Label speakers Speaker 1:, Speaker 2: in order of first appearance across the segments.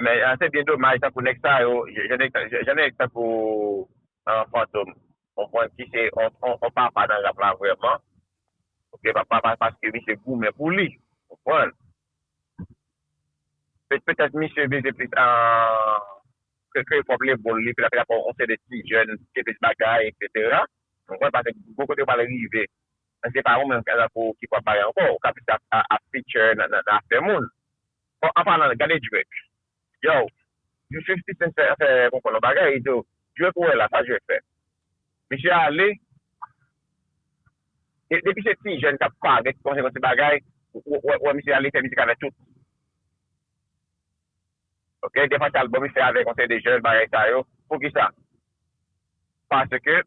Speaker 1: Men se byen domaj tankou nèg sa yo, jan nèg tankou Fantom konprann ki se yon papa nan rap la vrèman, ok papa paske misye goumen pou li ou konprann. Petèt misye vize plis ke pwòp lebòl li, petèt yon seri de ti jèn ki gen plis bagay eksetera ou konprann paske gwo kote yo pral rive Men se pa ou menm Gazelle pou ki pou ap pale ankò ou ka plis ap feature nan afè moun bon an palan gade Drake yow jou 50 cent fè fè konprann yon bagay li di yo Drake ou wè la sa Drake fè misye ale depi se ti jèn kap pale ki kòmanse fè ti bagay ou wè misye ale fè mizik avè tout ok dèfwa se album li fè avèk yon seri de jèn bagay sa yo poukisa paske.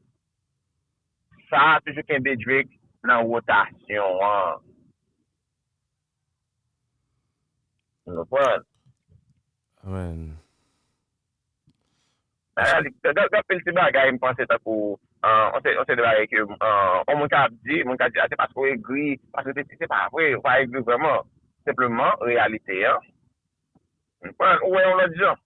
Speaker 1: Sa a toujou kenbe Drake nan wotasyon an. Nou konprann?
Speaker 2: Amen.
Speaker 1: Gen anpil ti bagay m panse tankou yon seri de bagay ke yon moun ka ap di, moun ka di a se paske ou egri, paske sesi, se pa vre, ou pa egri vrèman. Senpleman reyalite an, ou konprann, ou wè yon lòt jan.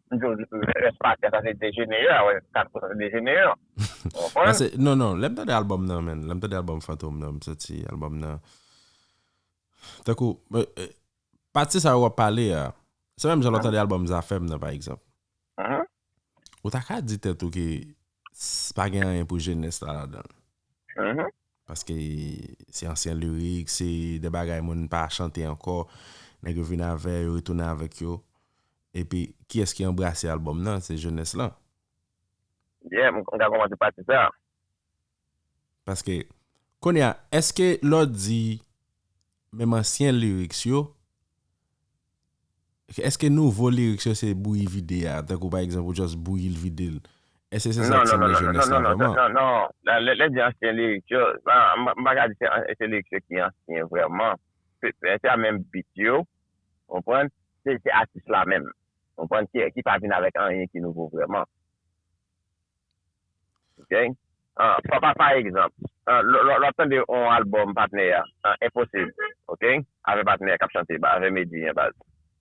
Speaker 1: m di w rès matyas la se dejenere a wè kat kote dejenere an ou konprann. Pase
Speaker 2: non non lè m tande album nan menn lè m tande album fantom nan m santi album nan tankou pati sa yo w ap pale a se menm jan lè w tande album zafèm nan pa egzanp ou ta ka di tèt ou ke Pa gen anyen pou jenès la ladan l. Paske se ansyen lirik, se de bagay moun pa chante ankò. Nèg yo vin avè, yo retounen avèk yo. Epi, kiyès ki anbrase albòm nan? Se jenès lan.
Speaker 1: Byen, m ka kòmanse pati sa a.
Speaker 2: Paske Konya eske lè w di menm ansyen lyrics yo eske nouvo lyrics yo se bouyi vide a tankou pa egzanp ou just bouyi l vide l eske se sa k sanble jenès la vrèman. Non non non non lè
Speaker 1: di ansyen lyrics yo m pa ka di se ansyen lyrics yo ki ansyen vrèman se a menm beat yo ou konprann se atis la menm ou konprann ki pa vin avèk anyen ki nouvo vrèman. Ok papa pa egzanp lwap tande yon album patnè ya enposib ok avè patnè kap chante avè medi an baz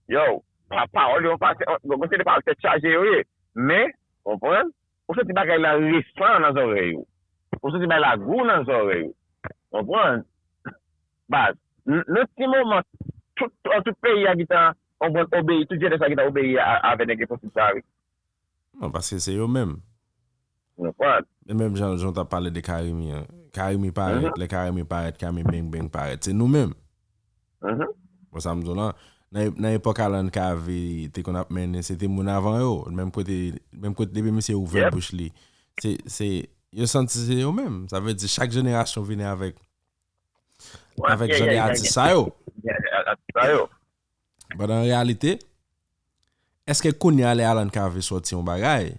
Speaker 1: yow pawòl yo pa bon se de pawòl tèt chaje yo ye men konprann ou santi bagay la resan nan zòrèy ou ou santi bagay la gou nan zòrèy ou konprann baz nan ti moman tout peyi ya gitan konprann obeyi tout jenès la gitan obeyi avè nèg enposib sa wi. Non
Speaker 2: paske se yo menm. Yo pat. E menm jan jan w tap pale de Carimi an. Carimi parèt, lè Carimi parèt Carimi beng beng parèt. Se nou menm. Bon sa m di w lan, nan epòk Alan Cavé te konn ap mennen, se te moun avan yo. Menm kote, menm kote depi misye ouvè bouch li. Se, se, yo santi se yo menm. Sa vle di chak jenerasyon vini avèk, avèk jan de atis sa yo. Atis sa yo. Pandan an reyalite, èske kounye a lè Alan Cave sòti yon bagay,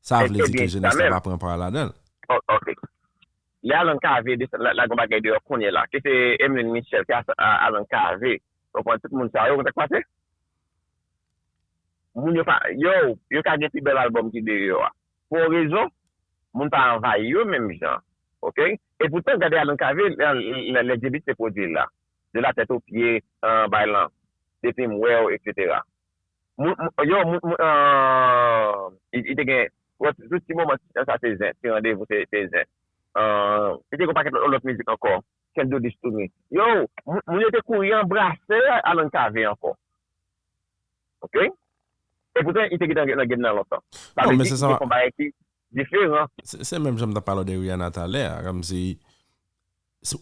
Speaker 2: sa vle di ke jenès la pa pran pa ladan l? Ok.
Speaker 1: Lè Alan Cave desann lage yon bagay deyò kounye la, ke se Emeline Michel, ke se Alan Cave, ou konprann, tout moun sa yo, ou konn sa k pase? Moun yo pa, yow, yo ka gen pi bèl albòm ki deyò a. Pou yon rezon, moun pa anvayi yo menm jan. Ok? Epoutan, gade Alan Cave, lè J-Beat te pwodui l la. de la tête aux pieds an bay lan depim wew etc moun yo moun an li te gen tout ti moman sa se zen ti randevou se zen li te gen paket lot mizik anko can't do this to me yo moun yo te kouri anbrase Alan cave anko ok epoutan li te gentan nan game nan lontan sa vle di li te fon
Speaker 2: bagay ki diferan.
Speaker 1: Se menm jan m
Speaker 2: tap pale w de Rihanna talè a kòmsi.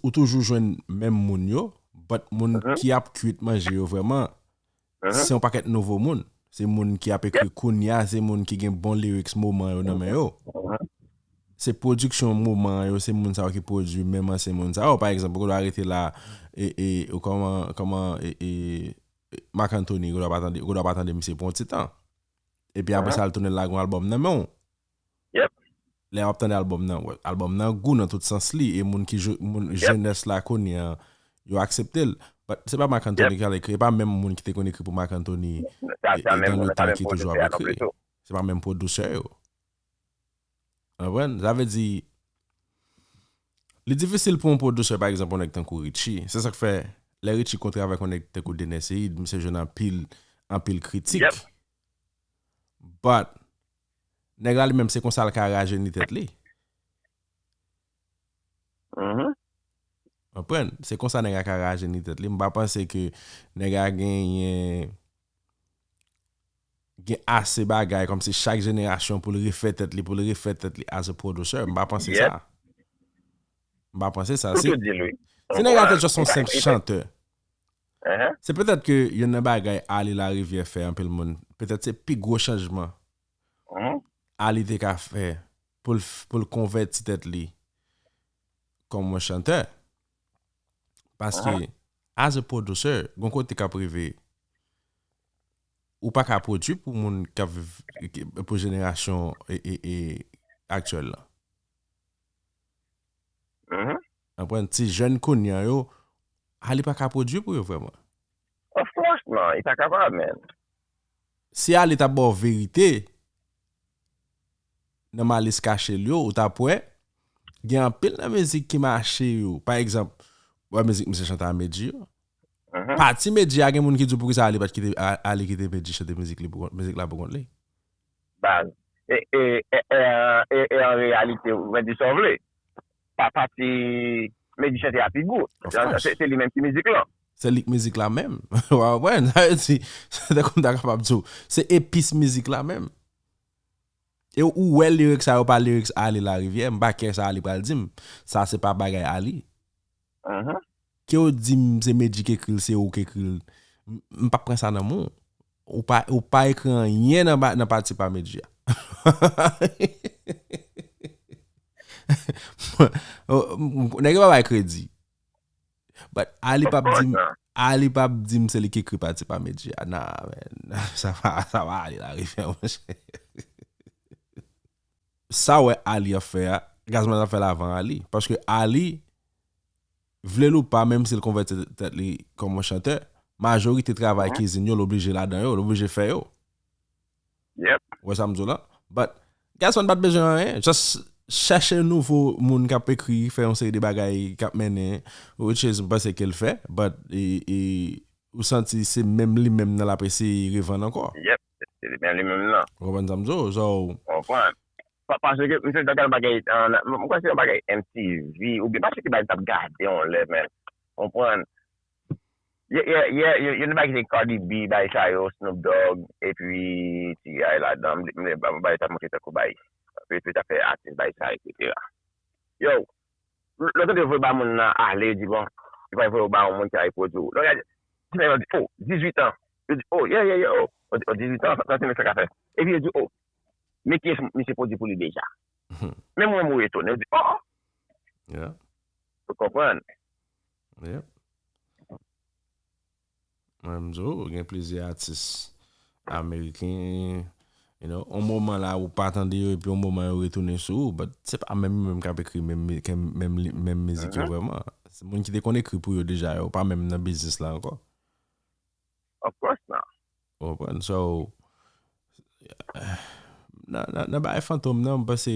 Speaker 2: Ou toujou jwenn menm moun yo, but moun ki ap kwit manje yo vrèman, se yon pakèt nouvo moun. Se moun ki ap ekri kounya, se moun ki gen bon lyrics moman yo nan men yo. Se pwodiksyon moman an yo, se moun sa yo ki pwodui menm ansyen moun sa yo. Pa egzanp, ou gen dwa rete la, e, e, kòman, kòman, e, e, Marc Anthony, ou gen dwa pa tande, ou gen dwa pa tande misye pou yon ti tan. Epi apre sa l tounen lagon albòm nan men w. Yep.
Speaker 1: Lè wap tande
Speaker 2: album nan, album nan gou nan tout sans li e moun ki moun jenès la kounye an yo akseptel but se pa Marc Anthony ki al ekri e pa menm moun ki te konn ekri pou Marc Anthony dans le
Speaker 1: tan ki toujou ap ekri
Speaker 2: se pa menm producer yo ou konprann sa vle di li difisil pou yon producer pa egzanp yon nèg tankou Richie se sak fè lè Richie kontre avèk yon nèg tankou Dener Ceïde misye jwenn anpil anpil kritik but Nèg la li menm se konsa l ka rajeni tèt li. Konprann? Se konsa nèg la ka rajeni tèt li. M pa panse ke nèg la genyen gen ase bagay kòm se chak jenerasyon pou l refè tèt li, pou l refè tèt li as a producer. M pa panse sa. M pa panse sa. Se nèg la te just yon senp chanteur. Se petèt ke youn nan bagay Ali Lariviere fè anpil moun, petèt se pi gwo chanjman Ali te ka fè pou l konvèti tèt li kòm yon chantè. Paske as a producer, gon kote k ap rive ou pa ka pwodui pou moun k ap viv, pou jenerasyon aktyèl lan. Konprann ti jèn kounya yo ah li paka pwodwi pou yo vrèman. Of course
Speaker 1: nan li pa kapab menn. Si
Speaker 2: Arly ta baw verite nan Malice kachel yo ou tap wè gen anpil nan mizik ki mache yo pa egzanp ou wè mizik misye chante a Medjy yo pati Medjy a gen moun ki diw poukisa Arly pat kite Arly kite Medjy chante mizik li poukont mizik la poukont li. baz
Speaker 1: e an reyalite ou vle di sa w vle pa pati Medy chante a pi gou se li menm ki mizik lan. Se li ki mizik la
Speaker 2: menm ou pa konprann sa vle di se tankou m ta kapab di w se epis mizik la menm e ou wè lyrics sa yo pa lyrics Arly Lariviere m pa kè sa Arly pral di m sa se pa bagay Arly. Kew dim se Medjy k ekril se ou k ekril m pap pran sa nan men w ou pa ekri anyen nan pati pa Medjy a nèg yo pa bay kredi but Ali pap dim Ali pap dim se li k ekri pati pa Medjy a nan men sa pa sa pa Ali la rifè monchè. sa wè Arly ap fè a Gazman tap fèl avan Arly paske Arly vlel ou pa menm sil konvèti tèt li kòm yon chantè majorite travay kizin yo l oblije ladan yo l oblije fè yo
Speaker 1: ou wè sam diw la
Speaker 2: but Gazman pat bezwen anyen just chèche nouvo moun kap ekri fè yon seri de bagay kap mennen which is m panse kel fè but ou santi se menm li menm nan lap eseye revann ankò. Se te byen
Speaker 1: li menm nan. Ou konprann sa m di w? So.
Speaker 2: Ou konprann.
Speaker 1: Paske misye te gade bagay an. M kwè se yon bagay MTV oubyen pa se ki bagay m t ap gade yon lè men. Ou konprann. Yè yon de bagay ki te Cardi B bagay sa yo, Snoop Dogg epi T.I. ladan. M bliye bagay sa m montre tankou bagay. Yo te fè atis bagay sa yo eksetera. Yow! Lè w tande yo voye ba moun nan ale, yo di bon, yo pral voye ou ba yon moun ki al repwodui w. Lè w gade ti nèg la, yo di o, 18 an. Yo di o, ye, ye, ye o. O 18 an, sa ti nèg sa ka fè? Epi yo di o, men kiyès misye pwodui pou li deja. Menm ou menm ou etone, ou di o! Ou konprann?
Speaker 2: Mwen m di w gen plizyè atis ameriken you know yon moman la ou pa tande yo epi yon moman yo retounen sou ou but se pa menm yo menm kap ekri menm mizik yo vrèman se moun ki te konn ekri pou yo deja yo pa menm nan biznis la ankò
Speaker 1: Of course not Ou konprann so
Speaker 2: nan bagay Fantom nan m panse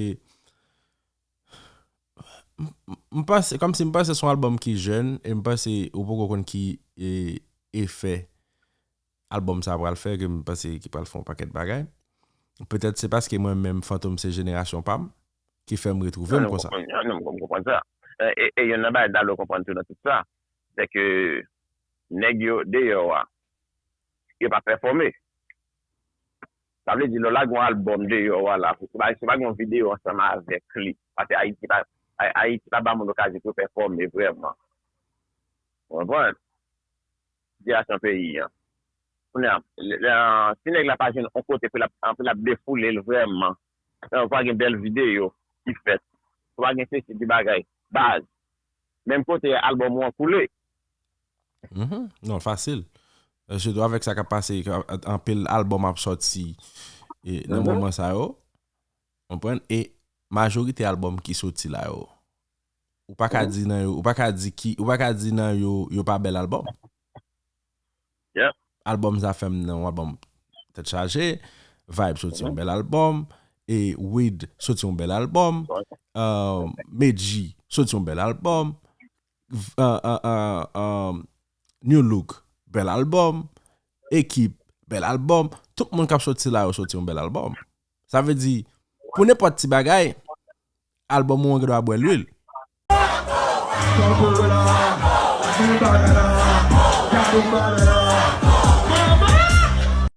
Speaker 2: M panse, kòmsi m panse se yon albòm ki jèn, e m panse ou poko konn ki efè albòm sa pral fè, ke m panse ki pral fè yon pakèt bagay. Petèt se paske mwen menm Fantom se jenerasyon pa m, ki fè m retwouve m konsa. Non, m konprann sa.
Speaker 1: E yonn nan bagay Dalo konprann tou nan tout sa, se ke nèg yo deyò a, yo pa pèfòme. Sa vle di lè w lage yon album deyò a la, fòk ou bay, si w pa gen yon videyo ansanm avèk li, paske Ayiti pa, Ayiti pa ba moun okazyon pou yo pèfòme vrèman. Ou konprann? Sitiyasyon peyi an. Kounye a, lè, si nèg la pa jwenn yon kote pou l ap, pou l ap defoule l vrèman, ou pa gen bèl videyo ki fèt, ou pa gen sesi de bagay, baz, menm kote album ou an koule. Mhm,
Speaker 2: non fasil. Euh, Sitou avèk sa kap pase, ka- anpil albòm ap sòti e, nan Mhm. moman sa yo. Konprann? E majorite albòm ki soti la yo. Ou pa ka Mhm. di nan yo, ou pa ka di ki, ou pa ka di nan yo, yo pa bèl albòm.
Speaker 1: Yep. Albòm sa
Speaker 2: fèm nan albòm tèt chaje, Vibe soti yon Mhm. bèl albòm, e Wid soti yon bèl albòm, Ouais. euh, Medji soti yon bèl albòm. New look bèl album Ekip bèl album Tout moun kap soti la yo soti yon bèl album Sa vle di pou nenpòt ti bagay Album ou an gen dwa bwè lwil